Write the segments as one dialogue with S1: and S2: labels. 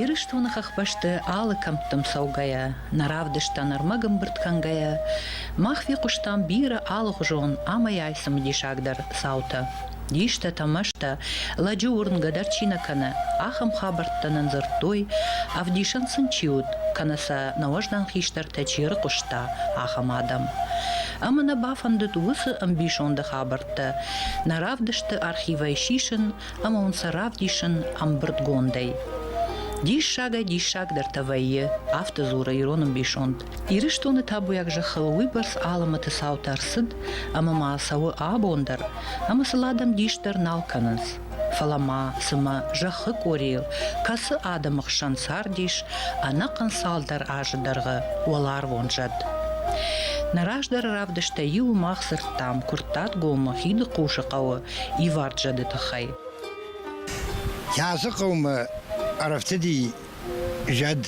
S1: Ирыстоны хӕхбӕсты алы кӕмттӕм цӕугӕйӕ, нӕ равдысттӕ нырмӕ гымбырд кӕнгӕйӕ, мах фехъуыстам бирӕ алыгъуызон ӕмӕйай цымыдисагдӕр цаутӕ. Дистӕтӕ, мӕстӕ, лӕджы уырнгӕ дӕр чи нӕ кӕны, ахӕм хабӕрттӕ нын дзырдтой, ӕвдисӕн сын чи уыд, кӕнӕ сӕ нӕ уӕздан хистӕртӕ чи ӕрыхъуыста, ахӕм адӕм. Ӕмӕ нӕ бафӕндыд уыцы ӕмбисонды хабӕрттӕ хабӕрттӕ нӕ равдысты архивӕй сисын ӕмӕ уын сӕ равдисын ӕмбырдгондӕй. Диссагӕй-диссагдӕртӕ вӕййы, афтӕ дзуры ирон ӕмбисонд. Ирыстоны табуйаг зӕххыл уыйбӕрц алымӕты цаутӕ ӕрцыд, ӕмӕ ма цӕуы абон дӕр, ӕмӕ сыл адӕм дис дӕр нал кӕнынц. Фӕлӕ ма, цымӕ, зӕххы къорийыл кӕцы адӕмы хсӕн цардис ӕнӕхъӕн цалдӕр азы дӕргъы уӕларвон зӕд? Нӕ раздӕры равдыстӕй иуы мах дзырдтам Куырттатгомы Хидыхъусы хъӕуы ивард зӕды тыххӕй.
S2: Язы хъӕумӕ ӕрӕфтыди зӕд.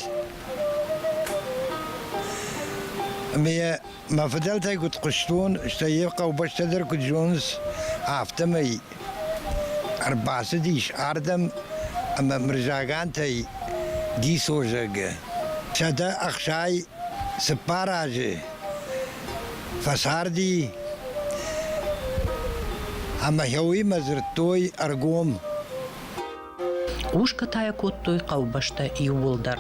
S2: Ӕмӕ йӕ Мӕ фыдӕлтӕй куыд хъуыстон, стӕй йӕ хъӕубӕстӕ дӕр куыд зоныс, афтӕмӕй ӕрбацыдис ардӕм ӕмӕ Мырзагантӕй Гисо зӕгъы, сӕдӕ ӕхсай цыппар азы фӕцарди, ӕмӕ йӕ уыимӕ дзырдтой ӕргом. Хъусгӕ
S1: та йӕ кодтой хъӕубӕстӕ иууылдӕр.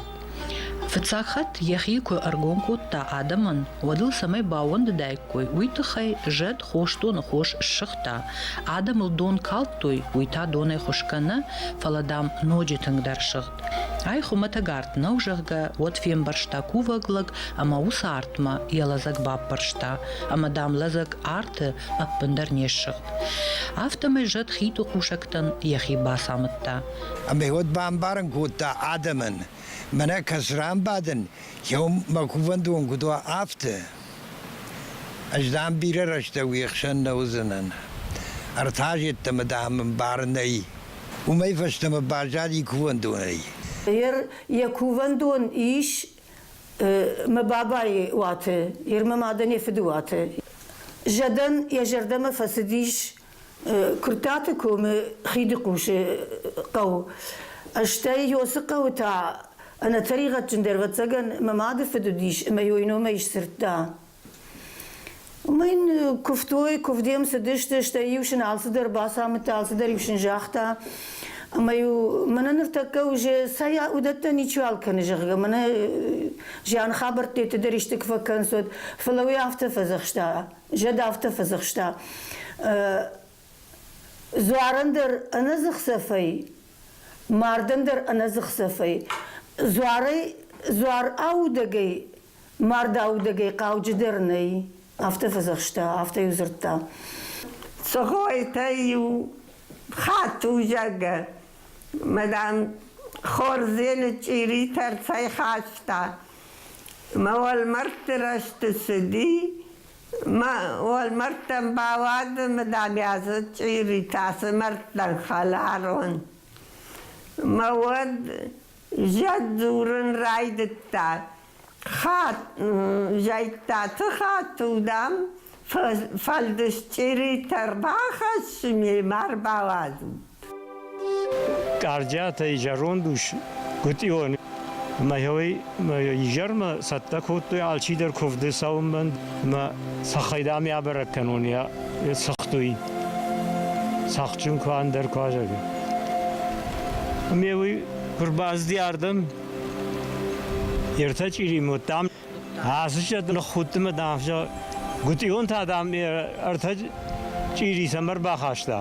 S1: Фыццаг хатт йӕхи куы ӕргом кодта адӕмӕн, уӕд ыл цӕмӕй баууӕндыдаиккой, уый тыххӕй зӕд хосдоны хос ссыгъта, адӕмыл дон калдтой, уый та донӕй хуысгӕ нӕ, фӕлӕ, дам, ноджы тынгдӕр сыгъд. Ай хуымӕтӕг арт нӕу, зӕгъгӕ, уӕд фембӕрста кувӕг лӕг ӕмӕ уыцы артмӕ йӕ лӕдзӕг баппӕрста, ӕмӕ, дам, лӕдзӕг арты ӕппындӕр не ссыгъд. Афтӕмӕй зӕд хиты кусӕгтӕн йӕхи бацамыдта. Ӕмӕ уӕд
S2: бамбарын кодта адӕмӕн, мӕнӕ кӕс ран бадын, еу мӕ кувӕндон куыд уа, афтӕ. Ӕз дам бирӕ рӕстӕг уе хсӕн нӕ уыдзынӕн. Ӕртӕ зедтӕмӕ, дам, бар нӕй. Уымӕй фӕстӕмӕ баззади кувӕндонӕй. Эр,
S3: йӕ кувӕндон ис мӕ бабайы уаты, йе рмӕ мадӕн йӕ фыды уаты. Зӕдӕн йӕ зӕрдӕмӕ фӕцыдис Куырттаты комы хиды хъусы хъӕу. Стӕй Иосы хъӕуы та ӕнӕтӕригъӕдджындӕр ӕвӕццӕгӕн мӕ мады фыд уыдис ӕмӕ йой номӕй сдзырдта. Мын куывтой, куывдӕм цыдысты, стӕй-иу сын алцыдӕр бацамыдта, алцыдӕр-иу сын загъта. Ӕмӕ-иу мӕнӕ ныртӕккӕ уже сӕ уыдӕттӕ ничиуал кӕны, зӕгъгӕ, мӕнӕ зиан хабӕрттӕ дӕр исты куы фӕкӕнцод, фӕлӕ уый афтӕ фӕдзӕхста, зӕд афтӕ фӕдзӕхста. Дзуарӕн дӕр ӕнӕдзыхцӕфӕй, мардӕн дӕр ӕнӕдзыхцӕфӕй, дзуарӕй, дзуар аудӕгӕй Мард аудӕгӕй хъауджыдӕр нӕй, афтӕ фӕдзӕхста, афтӕ-иу дзырдта.
S4: Цӕгъойтӕ-иу хатт узӕгӕ, мадам, хордзены чъиритӕ рцӕйхаста, мӕ уӕлмӕрдты рӕзты цыди, мӕ уӕлмӕрдтӕм бауады, мадам, йӕ дзы чъиритӕ, цы мӕрдтӕн хӕларон. Мӕ уӕд Зӕд дзурын райдыдта. Хат, зӕйктаты хатыл, дам, фӕлдысчъеритӕ рбахӕсс, мемӕ рбалазут.
S5: Кардиатӕй зӕронд ус Гутъион мӕ изӕрмӕ цӕттӕ кодтой алчидӕр куывды цӕуынмӕ мӕ цӕххӕй дам ябӕрӕг кӕнон, йӕ цыхтой. Цӕхджын куы ӕндӕр куы азӕг. Ме уый Куы рбацыди ардӕм, ертӕ чъиримод, дам, ацы чъӕт ныххудты мӕ, дам, зӕгъ, гуытъион та, дам, ӕртӕ чъири цӕмӕ рбахаста?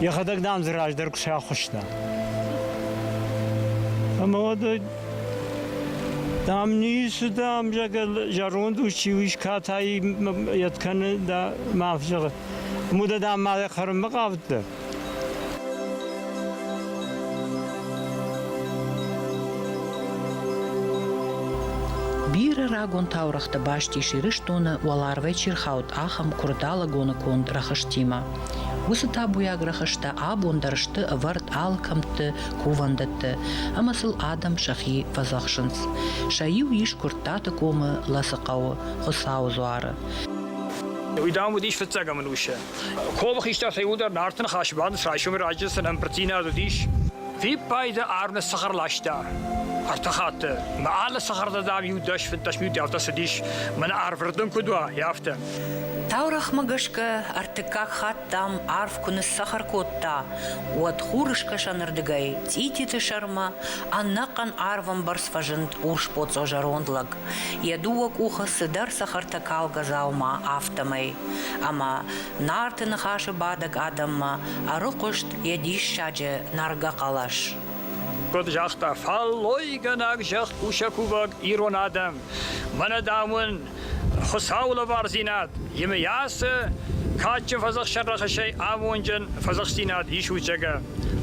S5: Йӕхӕдӕг, дам, дзы раздӕр куы сӕхуыста. Ӕмӕ уӕд Дам, ницы, дам, зӕронд ус чи у, катай йӕт кӕны, да, мӕ зӕгъы, муда, дам, мӕ хӕрынмӕ хъавыдтӕ?
S1: Бирӕ рагон таурӕгътӕ баст ис Ирыстоны уӕларвӕй чи рхауд, ахӕм куырдалыгоны конд рӕхыстимӕ. Уыцы табуйаг рӕхыстӕ абон дӕр сты ӕвӕрд алкӕмтты, кувӕндӕтты, ӕмӕ сыл адӕм сӕхи фӕдзӕхсынц. Сӕ иу ис Куырттаты комы Лӕцыхъӕуы Хуыцауы дзуары.
S6: Уый, дам, уыдис фыццӕгӕм ӕнусы. Ковы хистӕр фӕуыдӕр Нарты ныхасы бандыст райсомӕй раджы сын ӕмбырддзинад уыдис. Фиппайды Арны сыхар ласта. Ӕртӕ хатты мӕ алы сыхӕрды дӕр-иу дӕс фыддӕс минутӕ цыдис, мӕнӕ арвырдын куыд уа, афтӕ. Таурӕгъмӕ
S1: гӕсгӕ ӕртыккаг хатт дам арв куы ныссахар кодта, уӕд хурыскӕсӕнырдыгӕй цъититы сӕрмӕ ӕнӕхъӕн арвӕмбӕрц фӕзынд урсбоцъо зӕронд лӕг, йӕ дыууӕ къухы цыдӕр цӕхӕртӕ калгӕ дзаума, афтӕмӕй. ӕмӕ Нарты Ныхасы бадӕг адӕммӕ ӕрыхъуыст йӕ диссаджы нӕргӕ хъӕлӕс. Куыд
S6: загъта фӕллойгӕнӕг зӕхкусӕгкувӕг ирон адӕм, мӕнӕ дам уын Хуыцауы лӕвардзинад, емыйасы кадджын фӕдзӕхсӕн рӕхысӕй амонджын фӕдзӕхсдзинад исут зӕгӕ.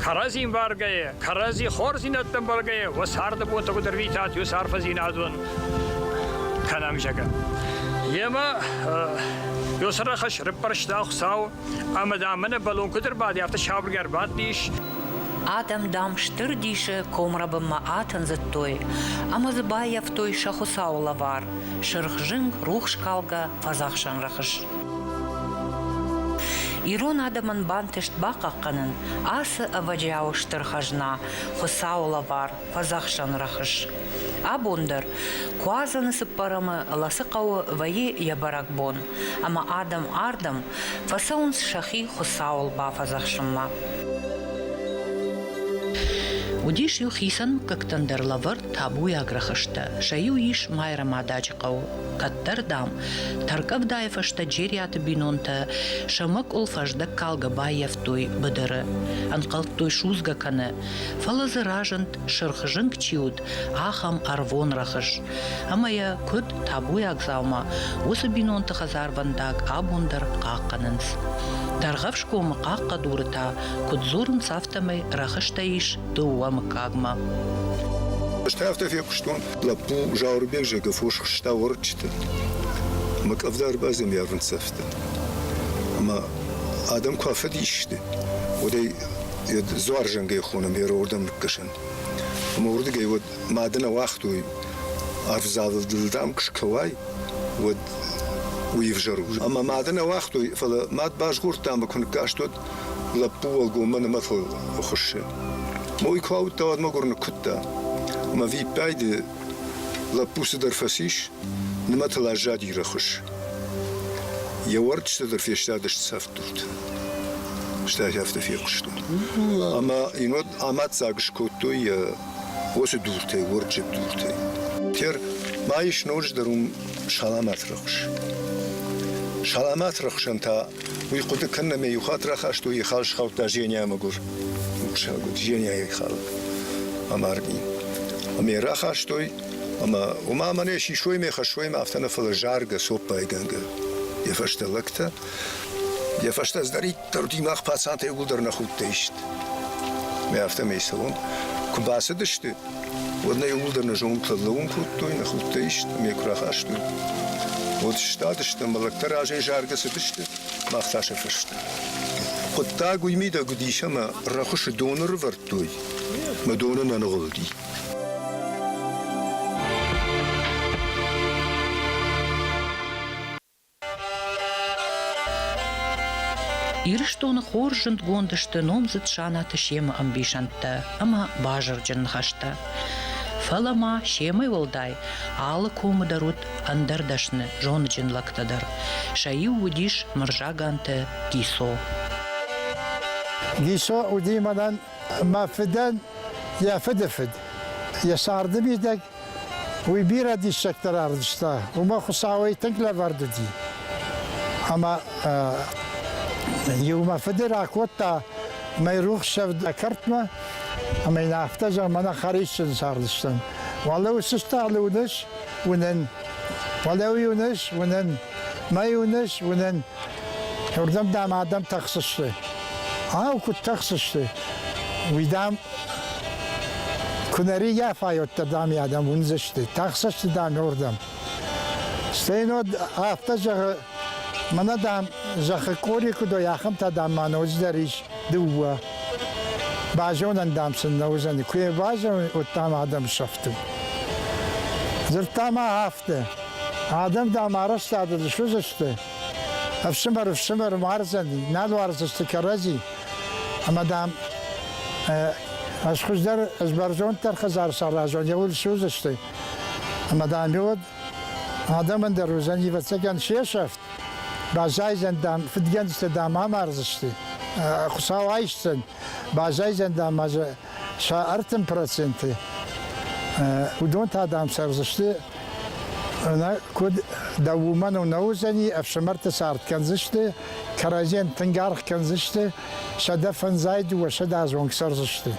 S6: Кӕрӕдзин варгӕйӕ, кӕрӕдзи хорздзинӕдтӕн бӕлгӕйӕ уӕ царды бонтӕ куыд ӕрвитат уыцы арфӕдзинадон кӕнӕм, зӕгӕ. Емӕ Ёсӕ рахӕс рыппӕрста Хуцау, ӕма дам мӕнӕ бӕлон куд ӕрбади, афтӕ сабыргӕр бадтис. Адӕм,
S1: дам, стыр дисы комрӕбынмӕ атындзыдтой ӕмӕ дзы баййӕфтой сӕ Хуыцауы лӕвар, сырх зынг, рухскалгӕ фӕдзӕхсӕн рӕхыс. Ирон адӕмӕн бантыст бахъахъхъӕнын ацы ӕвӕджиауы стыр хӕзна, Хуыцауы лӕвар, фӕдзӕхсӕн рӕхыс. Абон дӕр Куадзӕны цыппӕрӕмы ласы хъӕуы вӕййы йӕ бӕрӕгбон, ӕмӕ адӕм ардӕм фӕцӕуынц сӕхи Хуыцауыл бафӕдзӕхсынмӕ. Уыдис-иу хицӕн мыггӕгтӕн дӕр лӕвӕрд табуйаг рӕхыстӕ. Сӕ-иу ис Майрӕмададжы хъӕу, кӕддӕр, дам, тӕрккъӕвдайы фӕстӕ Джериаты бинонтӕ сӕ мӕкъуыл фӕздӕг калгӕ баййӕфтой быдыры, ӕнхъӕлдтой судзгӕ кӕны, Фӕлӕ дзы разынд, сырх зынг чи уыд, ахӕм ӕрвон рӕхыс. Ӕмӕ йӕ, куыд табуйаг дзаума, уыцы бинонты хӕдзарвӕндаг абон дӕр хъахъхъӕнынц. Дӕргъӕвсгомы хъахъхъӕдуры та куыд дзурынц, афтӕмӕй рӕхыстӕ ис дыууӕ мыггагмӕ.
S7: Ӕз та афтӕ фехъуыстон, лӕппу Зауырбег зӕгӕ фос хызта уӕрыччыты. Мӕ къӕвда ӕрбадзӕмйарвын цӕфтӕ. Ӕмӕ адӕм куы афыдис сты, уӕд ӕй дзуар зынгӕй хонӕм йӕ рордӕм ныккӕсӕн. Ӕмӕ уырдыгӕй уӕд мады нӕ уагътой, ӕвзалыл дыл дам куы скӕуай, уӕд уый ӕвзӕр у. Ӕмӕ мады нӕ уагътой, фӕлӕ мад базгъордта ӕмӕ куы ныккаст, уӕд лӕппу уӕлгоммӕ нымӕ фӕхуыссы. Ма уый куы ауыдта, уӕд мӕгуыр ныккуыдта. Ӕмӕ виппайды Лӕппу цыдӕр фӕцис, нымӕтыл аззади рӕхыс. Йӕ уӕрыччытӕ дӕр фестадысты цӕфдурты. Стӕй афтӕ фехъуыстон. Ӕмӕ йын уӕд амаддзаг скодтой йӕ уыцы дуртӕй, уӕрыччы дуртӕй. Тер, ма ис ноджыдӕр уым саламат рӕхыс. Саламат рӕхсӕн та Уый хъуыды кӕнын ӕмӕ иу хатт рахастой йӕ хал схаудта Женяйы мӕгуыр ухсаг уыд Женяйы хал амарди. Ӕмӕ йӕ рахастой ӕмӕ уымӕ мӕнӕ сисоймӕ, хӕссоймӕ афтӕ нӕ, фӕлӕ заргӕ, цоппайгӕнгӕ йӕ фӕстӕ лӕгтӕ. Йӕ фӕстӕ цыдӕриддӕр мах пацантӕй уыгуылдӕр нӕ худтӕй сты. Мӕ афтӕмӕй цӕуон. Куы бацыдысты, Уӕд нӕ иууылдӕр нӕ зонгтӕ лӕууын кодтой, нӕ худтӕ ист ӕмӕ йӕ куы рахастой. Уӕд сыстадысты ӕмӕ лӕгтӕ разӕй заргӕ цыдысты, мах та сӕ фӕстӕ. Хъуыддаг уый мидӕг уыдис, ӕмӕ рӕхуысы доны рывӕрдтой, мӕ доны нӕ ныгъуылди.
S1: Ирыстоны хорз зындгонд сты номдзыд Санаты семы ӕмбисӕндтӕ ӕмӕ базырджын ныхӕстӕ. Фӕлӕ ма семӕй уӕлдай алы комы дӕр уыд ӕндӕр дӕсны зоныджын лӕгтӕ дӕр. Сӕ иу уыдис Мырзаганты Гисо.
S8: Гисо уыди мӕнӕн мӕ фыдӕн йӕ фыды фыд, йӕ царды мидӕг Уый бирӕ диссӕгтӕ равдыста, уымӕ Хуыцауӕй тынг лӕвӕрд уыди. Ӕмӕ иу мӕ фыды ракодта мӕйрухсӕвд кӕртмӕ, ӕмӕ йын афтӕ зӕгъ, мӕнӕ хӕрисджын цардыстӕм. Уӕлӕ уыцы стъалы уыныс? Уынын. Уӕлӕ уый уыныс? Уынын. Мӕй уыныс? Уынын. Уырдӕм дӕм адӕм тӕхсысты. Ау, куыд тӕхсысты? Уый дам, куы нӕ риййафай, уӕддӕр дам йӕ адӕм уындзысты. Тӕхсысты дам уырдӕм. Стейн уӕд афтӕ зӕгъы, мӕнӕ дам, зӕххы къори куыд уой, ахӕмтӕ дам ма ноджыдӕр ис дыууӕ. Базонӕн дам сын нӕ уыдзӕни. Куы йӕ базонай, уӕд дам адӕм сӕфты. Дзырдта ма афтӕ. Адӕм, дам, арӕзтады суыдзысты. Ӕфсымӕр ӕфсымӕр мардзӕн, нӕ дуардзысты кӕрӕдзи. Ӕмӕ, дам, ӕз хуыздӕр, ӕз бӕрзонддӕр хӕдзар саразон, йӕ уд суыдзысты. Ӕмӕ, дам, уӕд адӕмӕн дӕр уыдзӕн, ӕвӕццӕгӕн, се сӕфт, баззайдзӕн, дам, фыдгӕндзтӕ, дам, амардзысты, Хуыцау айсдзӕн. Баззайдзӕн, дам, сӕ ӕртын проценты. Уыдон та, дам, цӕрдзысты Нӕ куыд дӕ уымӕн нӕ уыдзӕни, ӕфсымӕрты цард кӕндзысты, кӕрӕдзийӕн тынг аргъ кӕндзысты, сӕдӕ фӕндзай дыууӕсӕдӕдз онг цӕрдзысты.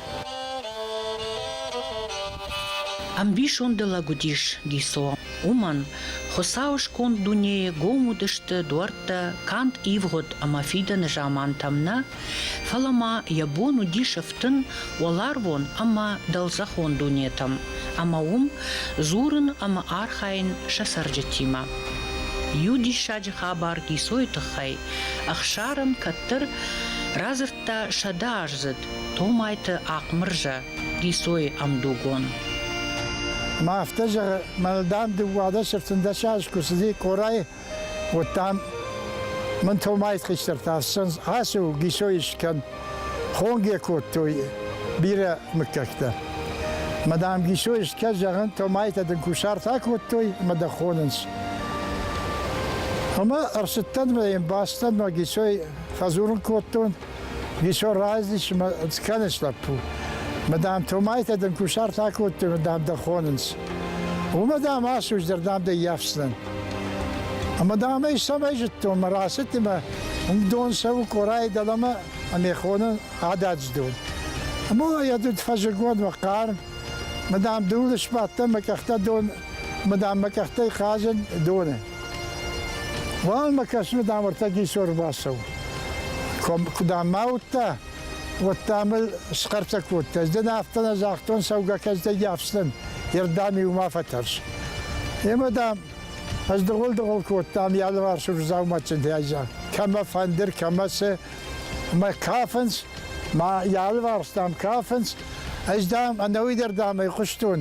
S1: Ӕмбисонды лӕг уыдис Гисо. Уымӕн, Хуыцауы сконд дунейы гом уыдысты дуӕрттӕ канд ивгъуыд ӕмӕ фидӕны замантӕм нӕ, Фӕлӕ ма йӕ бон уыди сыфтын уӕларвон ӕмӕ дӕлдзӕхон дунетӕм ӕмӕ уым дзурын ӕмӕ архайын сӕ цӕрджытимӕ. Иу диссаджы хабар Гисойы тыххӕй Ӕхсарӕн кӕддӕр радзырдта сӕдӕ аздзыд Томайты Ахъмырзӕ, Гисойы ӕмдугон.
S8: Ма афтӕ зӕгъы, мӕлдӕн дыууадӕс ӕфтындӕс аз куы цыди Къорайы Уӕдта мин томайс хистӕртӕ ацу гисой искӕн хонге кодтой бирӕ мыггӕгтӕ. Мадам гисой искӕн зӕгъын томайтӕ дын кусартӕ кодтой, ма дӕ хонынц. Ама ӕрсыттӕн ма бастӕн ма гисой фӕзурын кодтон, Ничего разницы, конечно, лӕппу. Мадам Томайтӕ дын кусарт акодтой, мадам дӕ хонынц. Уымӕ дам асуздӕр, дам дӕ йафсдзӕн. Ӕмӕ дам ӕй цӕмӕй зыдтон, мӕ рацыдти мӕ дон цӕуы къорайы дӕлӕмӕ ӕмӕ хоны ададжы дон. Ӕмӕ йӕ дыд фӕзыгон мӕ хъарм. Мадам дулы сбадтӕн, мӕ къӕхтӕ дон Мадам мӕ къӕхтӕй хъазӕн доны. Уал мӕ кӕсми, дам, ӕртӕ гисор бацӕу. Куда мӕ уыдта, уӕдта мӕ схъӕртӕ кодта. Ӕз дӕн афтӕ нӕ загътон, цӕугӕ кӕздӕги афтӕн, ердӕми ума фӕтӕрс. Емӕ, дам, ӕз дыгъул-дыгъул кодтам йӕ алыварсур дзауматджынтӕй, кӕмӕ фӕндыр, кӕмӕ цы. Мӕ кафынц, мӕ йӕ алыварс, дам, кафынц. Ӕз, дам, ӕнӕуи дӕр, дам, ӕй хъуыстон,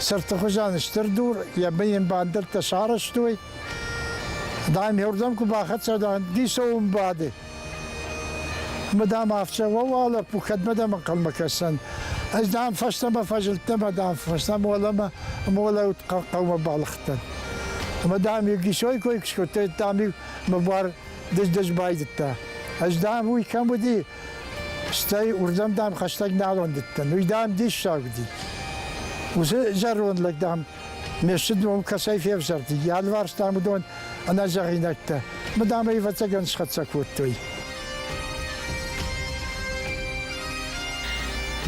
S8: Сырдты хуызӕн стыр дур, йӕ бын йын бандӕрттӕ сарӕзтой. Дам, уырдӕм куы бахӕццӕ дан, дисоум бады. Мы дам афтӕ уӕ лӕппу, кӕдмӕ дӕм ӕнхъӕлмӕ кӕсӕн? Ӕз дам фӕстӕмӕ фӕзылдтӕн, ӕмӕ дам фӕстӕмӕ уӕлӕмӕ молӕут хъӕумӕ балыгътӕн. Ӕмӕ дам иу гисой кой куы скодта, дам иу мӕ буар дыз-дыз байдыдта. Ӕз дам уый кӕм уыди, Стӕй уырдӕм, дам, хӕстӕг нал уӕндыдтӕн. Уый, дам, диссаг уыди. Уыцы зӕронд лӕг, дам, ме сты ном кӕцӕй февзӕрди. Ялварс, дам, уыдон ӕнӕзӕгъинӕгтӕ. Мы, дам, ӕй ӕвӕццӕгӕн схӕццӕ кодтой.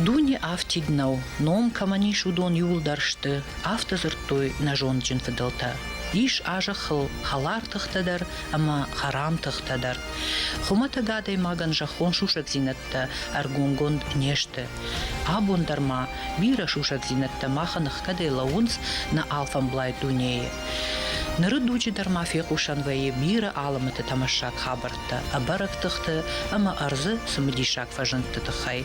S1: Дуне афтид нӕу, ном кӕмӕн ис, уыдон иуылдӕр сты, афтӕ дзырдтой нӕ зондджын фыдӕлтӕ. Ис а зӕххыл хӕлар тыхтӕ дӕр, ӕма хӕрам тыхтӕ дӕр. Хумӕтӕг адӕймагӕн зӕххон сусӕгдзийнӕдтӕ ӕргонгонд не сты. Абон дӕр ма бирӕ сусӕгдзийнӕдтӕ махӕн ӕхгӕдӕй лӕуунц нӕ алфӕмблай дунейы. Ныры дуджы дӕр ма фехъусӕн вӕййы бирӕ алымыты тӕмӕссаг хабӕрттӕ, ӕбӕрӕг тыхты ӕмӕ ӕрдзы цымыдисаг фӕзындты тыххӕй,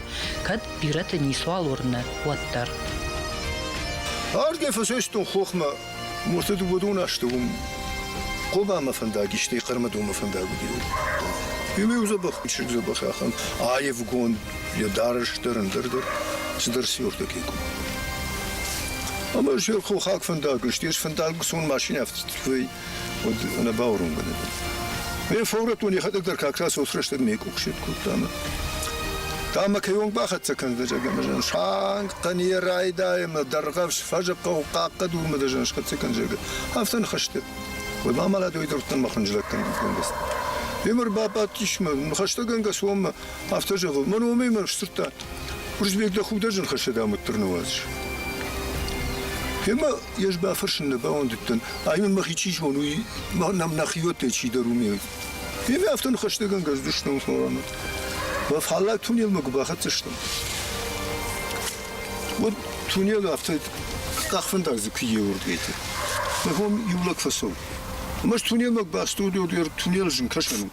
S1: кӕд бирӕты ницуал уырны, уӕддӕр. Ӕрдгӕй
S7: фӕсӕстон хохмӕ Муртыд уыдон асты уым Хъобамӕ фӕндаг, стӕй Хъӕрмӕдомӕ фӕндаг уыди. Ема иу дзӕбӕх, чызг дзӕбӕх ахӕм, аевгонд, йӕ дарӕс дӕр, ӕндӕр дӕр, цыдӕр сиортӕ Ӕмӕ зӕр хохаг фӕндаг, стӕй фӕндаг сон машинӕ уӕд нӕ бауромгӕ нӕ дӕн. Ме фӕурӕдтон йӕхӕдӕг дӕр как та цос рӕстӕг ме къухсет кодта мӕ. Та мӕ кӕйонг бахӕццӕ кӕндзӕ зӕгӕмӕ санг хъӕне райдайы мӕ дӕргъӕвс фӕзыхъхъау хъахъхъӕ дурмӕ дӕ зӕн схӕццӕ кӕн зӕгӕ. Афтӕ нхӕсты. Уый бамалад ой дӕрдтӕн мӕ хынджылӕг кӕнгӕ кӕндӕс. Емӕр бабадтис мӕ, хӕстӕгӕнгӕ соммӕ, Афтӕ зӕгъы, мӕн уымӕй мӕ сдзырдта. Уырызбег дӕ хуг дӕ зынхӕссӕд амыддӕр ныууадз. Гемӕ ес бафӕрсын нӕ бауӕндыдтӕн, аймӕ мӕхи чи зон, уый нам нӕхиуӕттӕй чидӕр уымӕ. Гемӕ афтӕ ныхӕстӕгӕнгӕ здыснон Морамӕт. Уӕ фаллаг тунелмӕ куы бахӕццӕ стӕм. Уӕд тунел афтӕ къахфӕндарадзы куы еуырдгӕйты. Мӕ бон иу лӕг фӕцӕуы. Мӕс тунелмӕ бастодод ер тунел зын кӕсӕн у.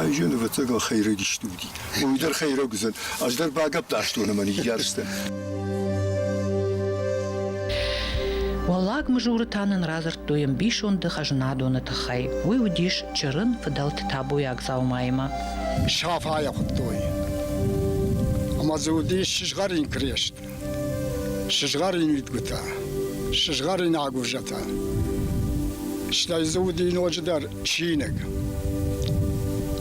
S7: Айзӕн, ӕвӕццӕгӕн, хӕйрӕг исдугти. Уой дӕр хӕйрӕг уыдзӕн. Ӕз дӕр багӕпдӕрстон ӕмӕ ныййарстӕн.
S1: Уӕллаг Мызуры та нын радзырдтой ӕмбисонды хӕзнадоны тыххӕй. Уый уыдис чырын фыдӕлты табуйаг дзаумаимӕ. Сафайӕ
S8: хуыдтой. Ӕмӕ дзы уыдис сызгъӕрин крест. Сызгъӕрин уидгутӕ, сызгъӕрин агурзатӕ. Стӕй дзы уыди ноджыдӕр чиныг.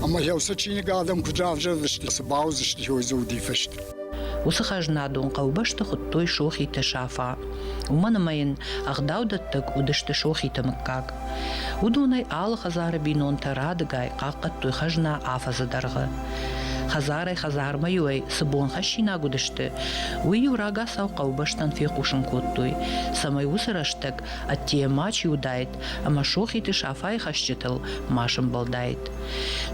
S8: Ӕмӕ йӕ уыцы чиныг адӕм куыд равзӕрдысты, цы бауыдзысты, хой дзы уыди фыст. Уыцы хӕзнадон
S1: хъӕубӕсты хуыдтой Сохиты Сафа. Уымӕн ӕмӕ йын ӕгъдаудӕттӕг уыдысты Сохиты мыггаг. Уыдонӕй алы хӕдзары бинонтӕ радыгай хъахъхъӕдтой хӕзна афӕдзы дӕргъы. Хӕдзарӕй-хӕдзармӕ-иу ӕй цы бонхӕссинаг уыдысты, уый-иу рагацау хъӕубӕстӕн фехъусын кодтой, цӕмӕй уыцы рӕстӕг ӕддейӕ ма чи уыдаид ӕмӕ Сохиты Сафайы хӕсджытыл ма сӕмбӕлдаид.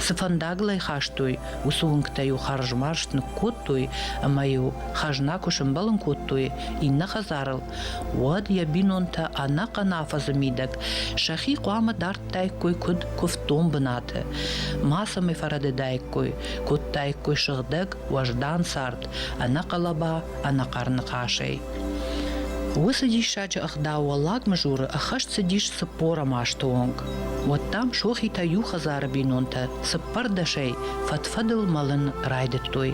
S1: Цы фӕндагыл ӕй хастой, уыцы уынгтӕ-иу хӕрзмарзт ныккодтой ӕмӕ-иу хӕзна куы сӕмбӕлын кодтой иннӕ хӕдзарыл, уӕд йӕ бинонтӕ ӕнӕхъӕн афӕдзы мидӕг сӕхи хъуамӕ дард Федтаиккой куыд куывддон бынаты, мацӕмӕй фӕрӕдыдаиккой, кодтаиккой сыгъдӕг, уӕздан цард ӕнӕхъӕлӕба, ӕнӕхъӕр ныхасӕй. Уыцы диссаджы ӕгъдау Уӕллаг Мызуры ӕххӕст цыдис цыппор ӕмӕ асты онг. Уӕд дам сохитӕ иу хӕдзары бинонтӕ цыппӕрдӕсӕй фӕд-фӕдыл мӕлын райдыдтой.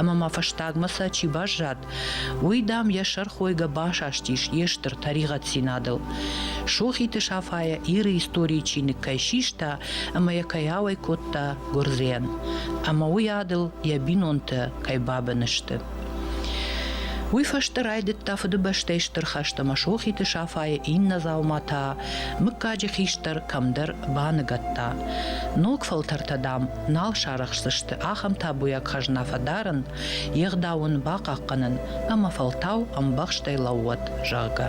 S1: Ӕмӕ ма фӕстагмӕ сӕ чи баззад, Уый, дам, йӕ сӕрхойгӕ басастис йе стыр тӕригъӕддзинадыл. Сохиты Сафайӕ Иры историйы чиныг кӕй систа ӕмӕ йӕ кӕй ауӕй кодта гуырдзийӕн, ӕмӕ уый адыл йӕ бинонтӕ кӕй бабын сты. Уый фӕстӕ райдыдта Фыдыбӕстӕйы Стыр хӕст ӕмӕ Сохиты Сафайы иннӕ дзауматӕ мыггаджы хистӕр кӕмдӕр баныгӕдта. Ног фӕлтӕртӕ, дам, нал сарӕхсдзысты ахӕм табуйаг хӕзна фӕдарын, йе гъдау ын бахъахъхъӕнын ӕмӕ фӕлтау ӕмбӕхстӕй лӕууӕд, зӕгъгӕ.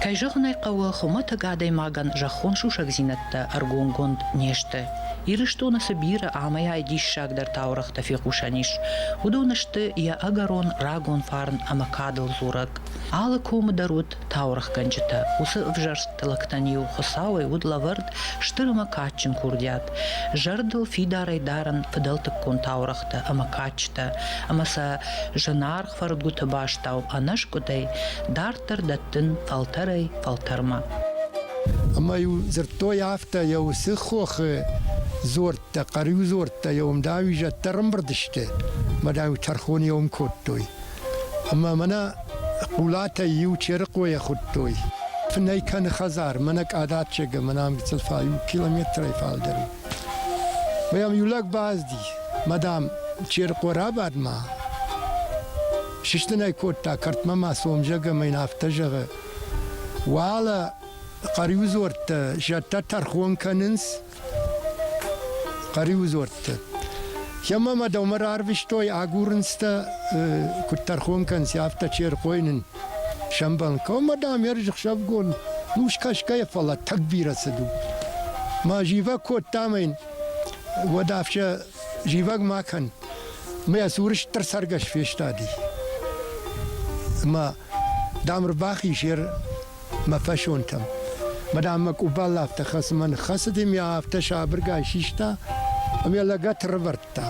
S1: Кӕй зӕгъын ӕй хъӕуы, хуымӕтӕг адӕймагӕн зӕххон сусӕгдзинӕдтӕ ӕргомгонд не сты. Ирыстоны цы бирӕ амӕйай диссагдӕр таурӕгътӕ фехъусӕн ис, уыдон сты йӕ ӕгӕрон рагон фарн ӕмӕ кадыл дзурӕг. Алы комы дӕр уыд таурӕгъгӕнджытӕ. Уыцы ӕвзӕрст лӕгтӕн-иу Хуыцауӕй уыд лӕвӕрд стыр ӕмӕ кадджын курдиат, зӕрдыл фидарӕй дарын фыдӕлтыккон таурӕгътӕ ӕмӕ кадджытӕ, ӕмӕ сӕ зынаргъ фӕрдгуыты бастау ӕнӕскъуыдӕй дарддӕр дӕттын фӕлтӕрӕй фӕлтӕрмӕ.
S8: Ӕмӕ-иу дзырдтой афтӕ, йӕ уыцы хохы дзордтӕ, хъӕрюдзордтӕ йӕ уым дӕр-иу зӕддӕр ӕмбырд сты, мад-иу тӕрхон йӕ уым кодтой. Ӕмӕ мӕнӕ Хъулатӕй иу Черыхъойӕ хуыдтой. Фынӕй кӕны хӕдзар, мӕнӕ Къадаччегы, мӕнӕ ӕмгъыцыл фӕ иу километрӕй фалдӕр у. Мӕ йӕм иу лӕг базди, мӕ дам, Черыхъо рабадмӕ, сыстын ӕй кодта кӕртмӕ мӕ сомзӕг ӕмӕ йын афтӕ зӕгъы: Уӕлӕ Хъӕриудзордтӕ зӕдтӕ тӕрхон кӕнынц, Хъӕриудзуӕрттӕ. Емӕ ма дӕумӕ рарвистой, агурынцтӕ, куыд тӕрхон кӕнынц, афтӕ чи ӕрхойын сӕмбӕлын. Кӕмӕ, дам, ӕрзыхсӕвгон ус кӕсгӕйӕ, фӕлӕ тӕг бирӕ цыд у. Мӕ зивӕг кодта мӕ йын, уӕд афтӕ зивӕг ма кӕн. Мӕ цуры стыр цӕргӕс фестади. Ӕмӕ Дам, рбахиз йе мӕ фӕсонтӕм. Мӕ дам, мӕ къубал афтӕ хӕцынмӕ ныххӕцыд, ӕмӕ афтӕ сабыргай систа, ӕмӕ йӕ лӕгӕт рывӕрдта.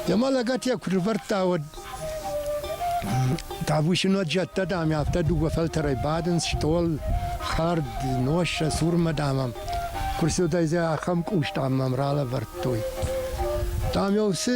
S8: Йӕ мӕ лӕгӕт йӕ куы рывӕрдта, уӕд тавышинаг зӕдтӕ, дам, афтӕ дыууӕ фӕлтӕрӕй бадынц, стъол, хӕрд, нос сӕ цурмӕ, дам, ӕм. Куы рцыдӕй, ахӕм къус, дам, мӕм ралӕвӕрдтой. Дам, йӕ уыцы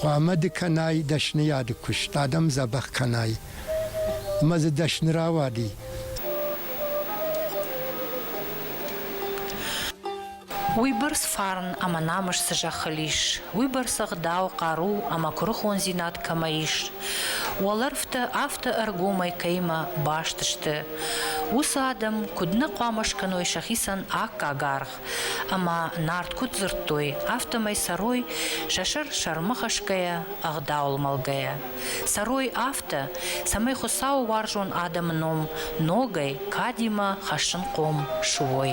S8: Хъуамӕ
S9: ды кӕнай дӕсныйады куыст, адӕм дзӕбӕх кӕнай ӕмӕ дзы дӕсны рауади.
S1: Уыйбӕрц фарн ӕмӕ намыс цы зӕххыл ис, уыйбӕрц ӕгъдау, хъару ӕмӕ куырыхондзинад кӕмӕ ис, уӕлӕрвтӕ афтӕ ӕргомӕй кӕимӕ баст сты, уыцы адӕм куыд нӕ хъуамӕ скӕной сӕхицӕн аккаг аргъ, Ӕмӕ Нарт куыд дзырдтой, афтӕмӕй цӕрой, сӕ сӕр сӕрмӕ хӕсгӕйӕ, ӕгъдауыл мӕлгӕйӕ. Цӕрой афтӕ, цӕмӕй Хуыцауы уарзон адӕмы ном ногӕй кадимӕ хӕссын хъом суой.